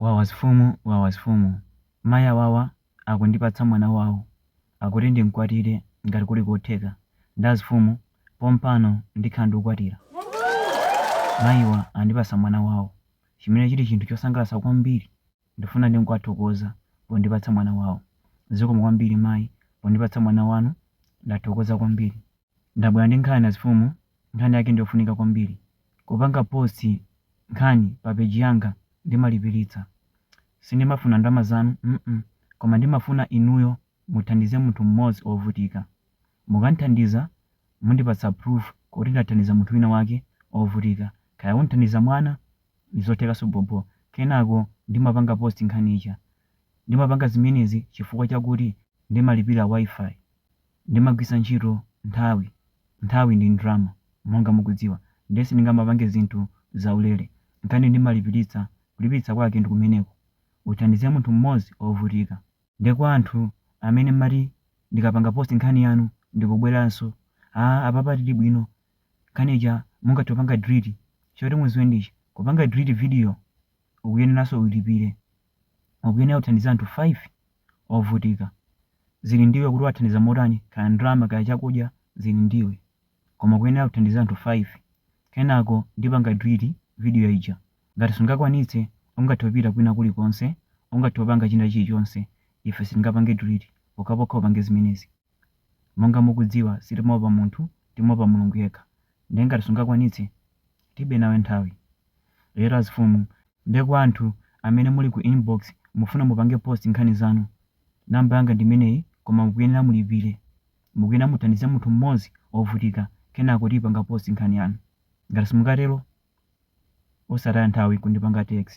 Wawa azifumu wawa azifumu Mai awawa akundipatsa mwana wawo Akuti ndimkwatire ngati kuli kotheka Nde azifumu pompano ndikhala ndikukwatira Maiwa andipasa mwana wawo Chimene chili chinthu chosangalasa kwambiri Ndifuna ndingowathokoza pondipatsa mwana wawo Zikomo kwambiri mai pondipatsa mwana wanu Ndathokoza kwambiri. Ndabwera ndi nkhani azifumu nkhani yake ndiyofunika kwambiri kupanga post nkhani pa page yanga ndimalipilitsa sindimafuna ndalama zanu mm koma ndimafuna inuyo muthandize munthu mmodzi ovutika mukamthandiza mundipatsa proof kuti ndathandiza munthu wina wake ovutika kaya uthandiza mwana ndizothekaso bhobho kenako ndimapanga post nkhani ija ndimapanga zimenezi chifukwa chakuti ndimalipira Wi-Fi Ndimagwisa ntchito nthawi nthawi ndi ndalama monga mukudziwa nde sindingamapange zinthu zaulere nkhani ndimalipilitsa kulipilitsa kwake ndikumeneko uthandize munthu mmozi ovutika nde kwa anthu amene mmati ndikapanga post nkhani yanu ndikubweranso aah apapa tilibwino nkhani ija mungathe kupanga delete choti muziwe ndichi kupanga delete video ukuyeneranso ulipire ukuyenera kuthandiza anthu 5 ovutika. Zili ndiwe kuti uwathandiza motani, kaya ndalama kaya chakudya zili ndiwe. Koma ukuyenera kuthandiza anthu 5. Kenako ndipanga delete video ija. Ngati sungakwanitse, ungathe kupita kwina kulikonse, ungathe kupanga china chilichonse, ife sitingapange delete pokhapokha upange zimenezi. Monga mukudziwa sitimaopa munthu timaopa Mulungu yekha nde ngati sungakwanitse tilibe nawe nthawi. Lero azifumu nde kwa anthu amene muli ku inbox mufuna mupange post nkhani zanu number yanga ndimeneyi koma mukuyenera mulipire. Mukuyenera muthandize munthu mmodzi ovutika kenako tiipanga post nkhani yanu. Ngati simukatero osataya nthawi kundipanga text.